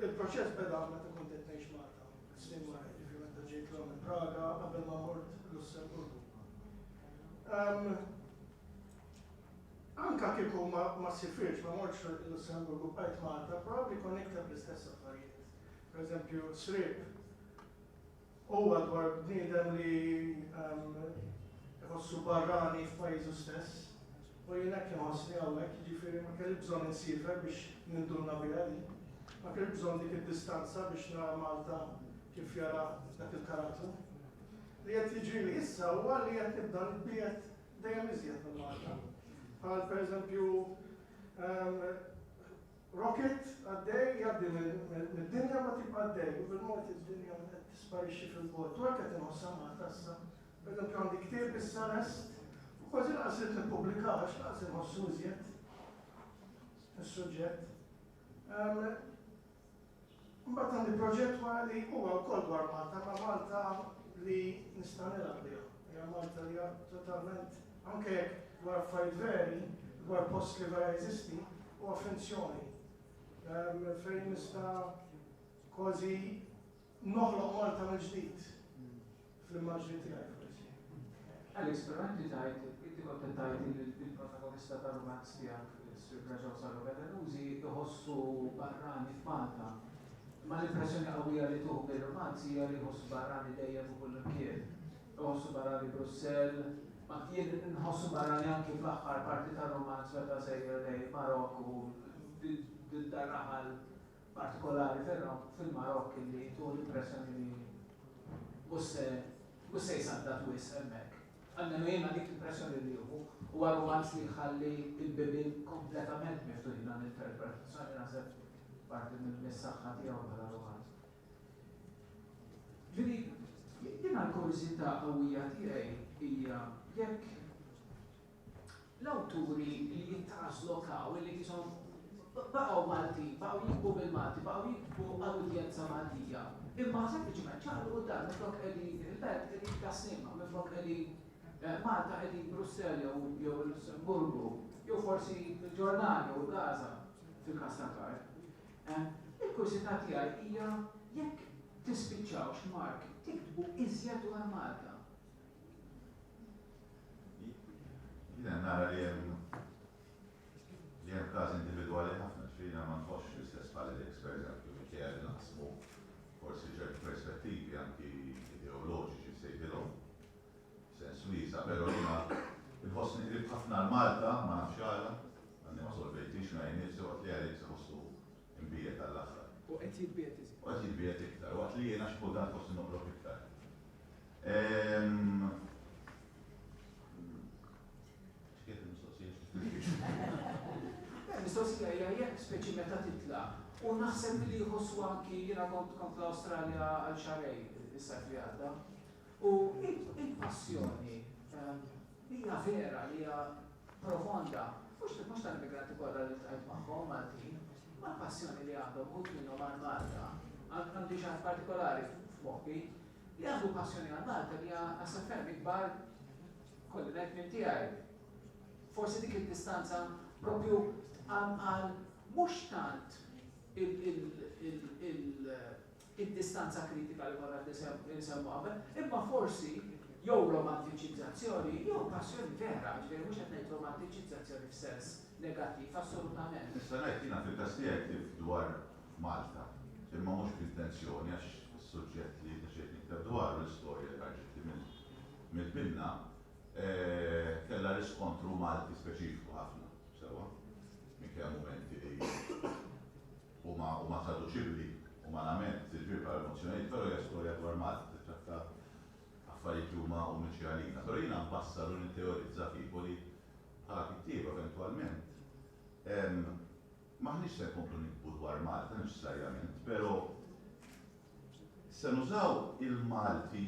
Il-proċess beda meta kont qed ngħix Malta, snin wara, ġifieri meta ġejt l minn Praga qabel ma mort Lussemburgu. Anka kieku ma sifirx ma mortx Lussemburgu bqajt Malta, probabbli konnekta bl-istess affarijiet. Per eżempju, srib Huwa dwar bniedem li iħossu barrani f'pajjiżu stess. U jien hekk inħossni hawnhekk, jiġifieri ma kelli bżonn insiefer biex ninduna biha din. Ma kelli bżonn dik id-distanza biex nara Malta kif jara dak il-karattru. Li qed jiġrili issa huwa li qed nibda nitbiegħed dejjem iżjed minn Malta. Bħal pereżempju Rocket għaddej jgħaddi mid-dinja ma tibqa' għaddej u bil-mod id-dinja qed tisparixxi fil-bogħod u hekk qed inħossha Malta issa. Pereżempju għandi ktieb issa lest u kważi lanqas ridt nippubblikah għax lanqas inħossu iżjed is-suġġett. Imbagħad għandi proġett wara li huwa wkoll dwar Malta, ma' Malta li nista' nilgħab biha. Hija Malta li totalment anke dwar affarijiet veri, dwar post li vera jeżisti, huwa finzjoni. Ehm, fejn nista' kważi noħloq Malta mill-ġdid. Fl-immaġni tiegħi forsi. Alex, però inti tgħid, inti kont qed tgħid li l-protagonista tar-rumanz tiegħek, Sir Braġaw Sarro Gallanusi, iħossu barrani f'Malta. Imma l-impressjoni qawwija li tuh mir-rumanz hija li jħossu barrani dejjem u kullimkien. Iħossu barrani Brussell, ma jien inħossu barrani anki fl-aħħar parti tar-rumanz meta sejjer lejn Marokk u din dar-raħal partikolari fil-Marokk illi jtu l-impressjoni li mhux se mhux se jsaddad wisq hemmhekk. Almenu jiena dik l-impressjoni li nieħu. Huwa rumanz li jħalli l-bibien kompletament miftuħin għall-interpretazzjoni naħseb parti mis-saħħa tiegħu bħala rumanz. Ġifieri, jiena l-kurżità qawwija tiegħi hija jekk L-awturi li jittranslaw taw li kison baqgħu Maltin, baqgħu jiktbu bil-Malti, baqgħu jiktbu għal udjenza Maltija, imma sempliċement ċaqalqu d-dar, minflok qegħdin il-Belt qegħdin f'Tas-Sliema, minflok qegħdin Malta qegħdin Brussell jew jew il-Lussemburgu, jew forsi l-Ġordanja jew Gaza, fil-każ ta' Karl. Il-kurjsità tiegħi hija jekk tispiċċawx Mark tiktbu iżjed dwar Malta. Jiena nara li hemm li hemm każi individwali ħafna, ġifieri jiena ma nħossx l-istess bħal Alex pereżempju, minkejja li naqsmu forsi ċerti perspettivi anki ideoloġiċi nsejħilhom f'sens wiesa', però jiena nħossni qrib ħafna għal Malta, ma nafx għala, għadni ma solvejtix ngħid nifsi waqt li Alex iħossu mbiegħed għall-aħħar. U qed jitbiegħed iżjed. U qed jitbiegħed iktar, waqt li jiena xi kultant forsi noqrob iktar. Mistoqsija hija jekk speċi meta titla' u naħseb li jħossu anki jiena kont kont l-Awstralja għal xarej is-sajf li għadda. U il-passjoni ehm, hija vera li hija profonda, mhux mhux tal-immigranti kollha li tqajt magħhom Maltin, ma passjoni li għandhom ħut minnhom għal Malta, għandi xi partikolari f'moħħi, Li għandu passjoni għal Malta hija naħseb ferm ikbar, ikolli ngħid, minn tiegħi. Forsi dik id-distanza proprju tqam għal mhux tant id-distanza kritika li konna qed insemmu qabel, imma forsi jew romantiċizzazzjoni jew passjoni vera, ġifieri mhux qed ngħid romantiċizzazzjoni f'sens negattiv assolutament. Nista' ngħid jiena fil-każ tiegħi ktibt dwar f'Malta. Imma mhux b'intenzjoni għax is-suġġett li deċidejt nikteb dwaru, l-istorja li ħarġitli mill-binna, kellha riskontru Malti speċifiku ħafna, sewwa, minkejja l-mumenti li huma traduċibbli umanament, jiġifieri bħala emozzjonijiet, però hija storja dwar Malta, tittratta affarijiet li huma uniċi għalina. Però jiena nbassar u nitteorizza kieku li bħala kittieba eventwalment hemm M'aħniex se nkomplu niktbu dwar Malta neċessarjament, pero' se nużaw il-Malti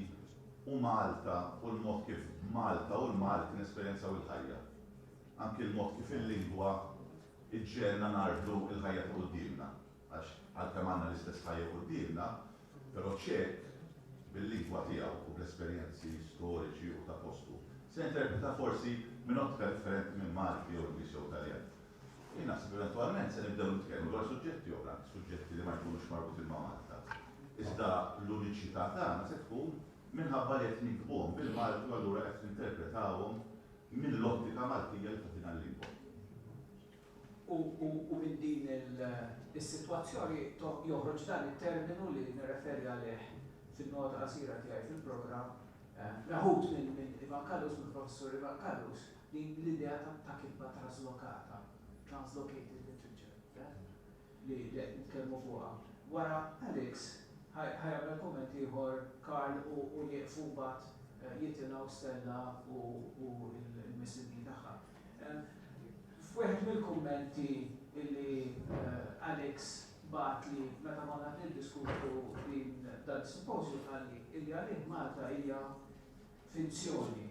u Malta u l-mod kif Malta u l-Malti nesperjenzaw il-ħajja. Anki l-mod kif il-lingwa ġġegħelna ngħarblu l-ħajja ta' quddiemna. Għax għalkemm għandna l-istess ħajja quddiemna, pero' Ċek, bil-lingwa tiegħu u bl-esperjenzi storiċi u ta' postu, se jinterpreta forsi minn ottka differenti minn Malti jew Ingliż jew Taljan. Jien naħseb li eventwalment se nibdew nitkellmu dwar suġġetti oħra, suġġetti li ma jkunux marbutin ma' Malta. Iżda l-uniċità tagħna se tkun minħabba li qed niktbuhom bil-Malti u allura qed ninterpretawhom mill-ottika Maltija li tagħtina l-lingwa. U minn din is-sitwazzjoni joħroġ dan it-terminu li nirreferi għalih fin-nota qasira tiegħi fil-programm, meħud minn Ivan Callus, mill-Professur Ivan Callus, Din l-idea ta' kitba traslokata, translocated literature, li qed nitkellmu fuqha. Wara Alex ħa jagħmel kumment ieħor Karl u jieqfu mbagħad jitilgħu Stella u l-missibni tagħha. F'wieħed mill-kummenti li Alex bagħatli meta konna qed niddiskutu din dan is-simpożju qalli li għalih Malta hija finzjoni.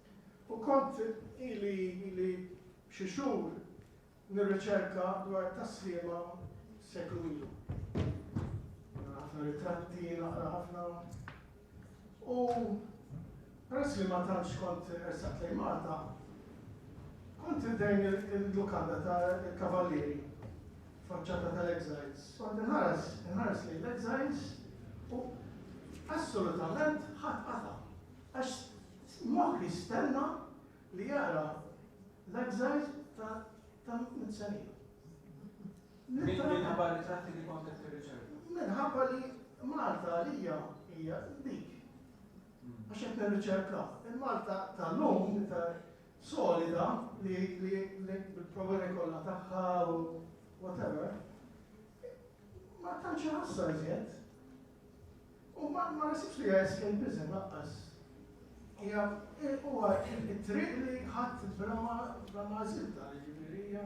U kont ili ili xi xhur nirriċerka dwar it-tasliema seklu ilu. Nara ħafna ritratti, naqra ħafna. U peress li ma tantx kont ersaqt lejn Malta, kont iddejn il-lukanda ta' il-Kavallieri faċċata tal-Exiles. Kont inħares, inħares lejn l-Exiles u assolutament ħadd qata'. Għax Moħħ jistenna li jara l-exiles ta' Tanzania. Minħabba r-ritratti li kont qed tirriċerka? Minħabba li Malta għalija hija dik. Għax qed nirriċerka. Il-Malta tal-lum ta' solida li bil-problemi kollha tagħha u whatever. Ma tantx ħassa iżjed. U ma naħsibx li hija escapism lanqas. Hija huwa t-triq li ħadt bla ma bla ma żidtha, jiġifieri hija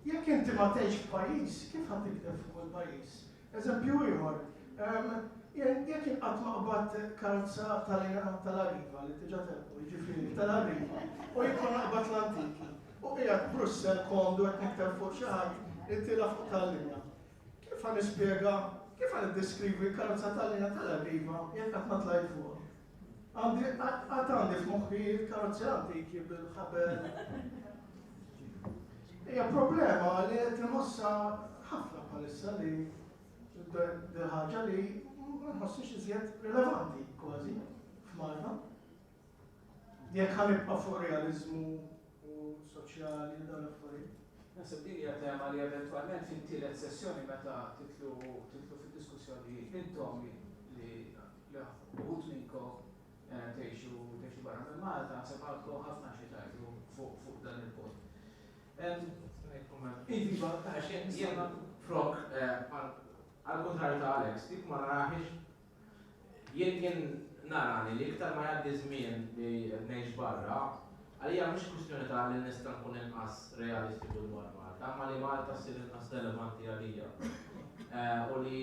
Jekk inti ma tgħix f'pajjiż, kif ħa tikteb fuq kull pajjiż? Eżempju ieħor, jien jekk jien qatt ma qbadt karza tal-Iran tal-Arriva li diġà telqu, jiġifieri tal-Arriva, u jien kont naqbad l-antiki. U qiegħed Brussell komdu qed nikteb fuq xi ħadd li tilgħa fuq tal-linja. Kif ħa nispjega, kif ħa niddeskrivi karozza tal-linja tal-Arriva jekk qatt ma tlajt fuqha? Għandi, qatt għandi f'moħħi karozzi antiki bil-ħabel. Hija problema li qed inħossha ħafna bħalissa li ħaġa li ma nħossix iżjed rilevanti kważi f'Malta. Jekk ħa nibqa' fuq realiżmu u soċjali u dawn l-affarijiet. Naħseb din hija tema li eventwalment fit-tielet sessjoni meta titlu titlu fid-diskussjoni intom li li uħud minnkom eh, tgħixu tgħixu barra minn Malta, naħseb għandkom ħafna xi tgħidu fuq fuq dan il-punt. Iva, għax jena prok eh, għal-kontrarju ta' Alex, dik ma naraħiex Jien kien nara li iktar ma jgħaddi ż-żmien li qed ngħix barra, għalija mhux kwistjoni ta' li nista' nkun inqas realistiku dwar Malta, imma li Malta ssir inqas relevanti għalija. U li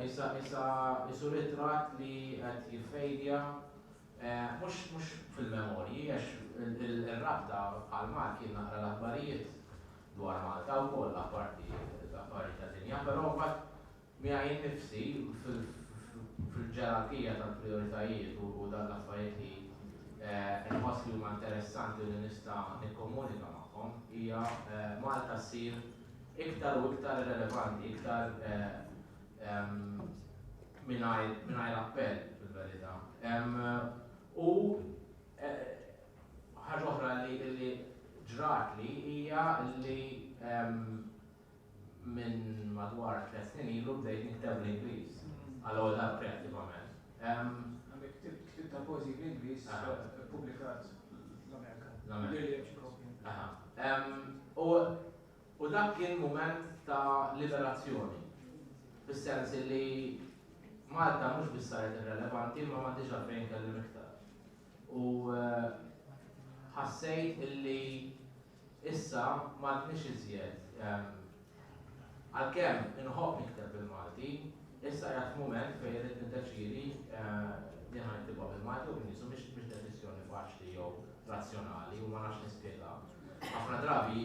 issa issa isu ritratt li qed jiffejdja, mhux mhux fil-memorji għax ir-rabta bħal Malti kien naqra l-aħbarijiet dwar Malta wkoll apparti l-aħbarijiet tad-dinja, però mbagħad Miegħi nnifsi fil-ġerarkija tal-prijoritajiet u dawn l-affarijiet li nħoss li huma interessanti u li nista' nikkomunika magħhom, hija Malta ssir iktar u iktar irrelevanti, iktar mingħajr appell fil-verità. U ħaġa oħra li ġratli hija li Minn madwar tliet snin ilu bdejt nikteb bl-Ingliż għall-ewwel darba kreattivament. Ktibt tal-poeżiji bl-Ingliż, ippubblikat l-Amerika. L-Amerika. U dak kien mument ta' liberazzjoni, fis-sens li Malta mhux biss saret irrelevanti imma m'għandix għalfejn inkellem iktar. U ħassejt li Issa m'għadniex iżjed Għalkemm inħobb nikteb bil-Malti, issa qiegħed mument fejn irrid niddeċiedi li ħa niktibha bil-Malti jew b'Inglis u mhix deċiżjoni faċli jew razzjonali u ma nafx nispjega. Ħafna drabi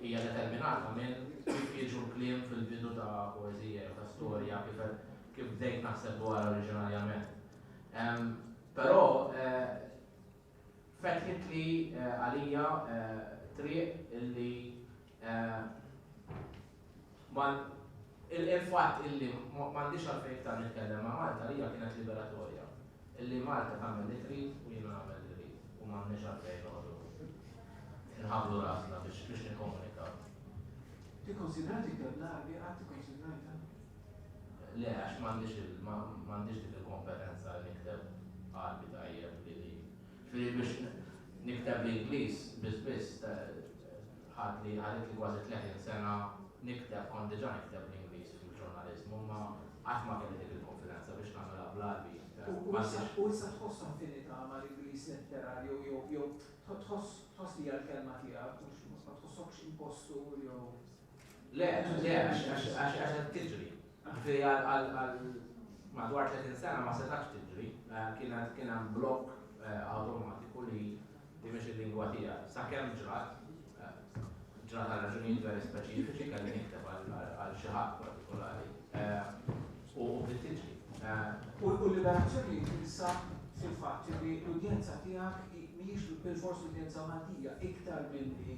hija determinata minn kif jiġu l-kliem fil-bidu ta' poeżija jew ta' storja kif kif bdejt naħseb dwarha oriġinarjament. Però Fetħitli għalija triq illi ma il-fatt illi m'għandix għalfejn iktar nitkellem ma' Malta għalija kienet liberatorja. Illi Malta tagħmel li trid u jiena nagħmel li rrid u m'għandniex għalfejn noqogħdu nħabblu rasna biex nikkomunikaw. Tikkunsidra tikteb l-Għarbi? Qatt ikkunsidrajtha? Le, għax m'għandix dik il-kompetenza li nikteb Għarbi tajjeb li li. Ġifieri biex nikteb bl-Ingliż biss biss ħadli ħaditli kważi 30 sena nikteb kont diġà nikteb bl-Ingliż fil-ġurnaliżmu imma qatt ma kelli dik il-konfidenza biex nagħmilha bl-Għarbi. U issa tħoss affinità mal-Ingliż letterarju jew tħoss li hija l-kelma tiegħek mhux ma tħossokx impostur jew? Le, le, għax qed tiġri. Ġifieri għal madwar 30 sena ma setax tiġri, eh, kien hemm blokk eh, awtomatiku li li mhix il-lingwa tiegħek. Sakemm ġrat, eh, ġrat għal raġunijiet veri speċifiċi kelli nikteb għal xi ħadd partikolari. U tiġri. U l-liberazzjoni tinsa fil-fatt li l-udjenza tiegħek mhijiex bil-fors l-udjenza Maltija iktar milli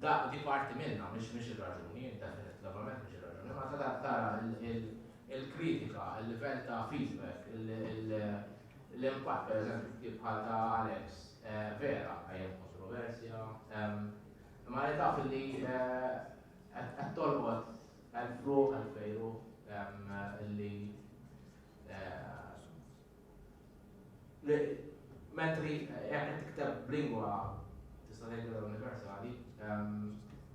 Dak, di parti minnha, mhix mhix ir-raġuni, definitivament mhix ir-raġuni, imma ta' dak tara l-kritika, il-livell ta' feedback, l-impatt, pereżempju, f'ktieb bħal ta' Alex, vera, għajjem kontroversja, imma li taf li qed tolqot elf ruħ, elf vejruħ, li Mentri jekk tikteb b'lingwa tista' tgħidilha universali,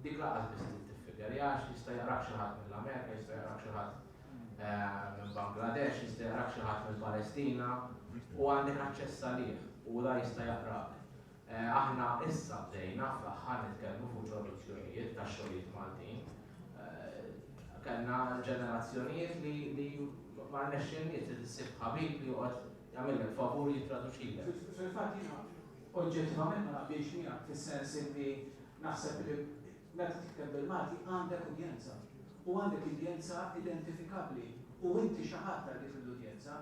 dik lanqas biss trid tiffikerja għax jista' jaqrak xi ħadd mill-Amerika, jista' jaqrak xi ħadd minn Bangladesh, jista' jaqrak xi ħadd mill-Palestina u għandek aċċess għalih u la jista' jaqrak. Aħna issa bdejna fl-aħħar nitkellmu fuq traduzzjonijiet ta' xogħlijiet Maltin. Kellna ġenerazzjonijiet li ma rnexxilniex li ssib ħabib li joqgħod jagħmillek favur jittraduċilek. Fil-fatt jiena oġġettivament ma naqbilx miegħek fis-sens illi naħseb li meta tikteb bil-Malti għandek udjenza u għandek udjenza identifikabbli u inti xi ħadd għal dik l-udjenza.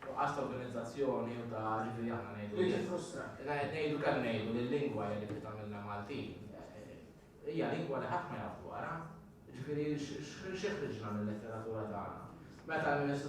Nuqqas ta' organizzazzjoni u ta' ġifieri aħna ngħidu. Jiġi frustrat. Ngħidu kemm ngħidu li l-lingwa hija dik li tagħmilna Maltin. Hija lingwa li ħadd ma jaf dwarha. Jiġifieri x'ħriġna mil-letteratura tagħna? Meta l-Ministru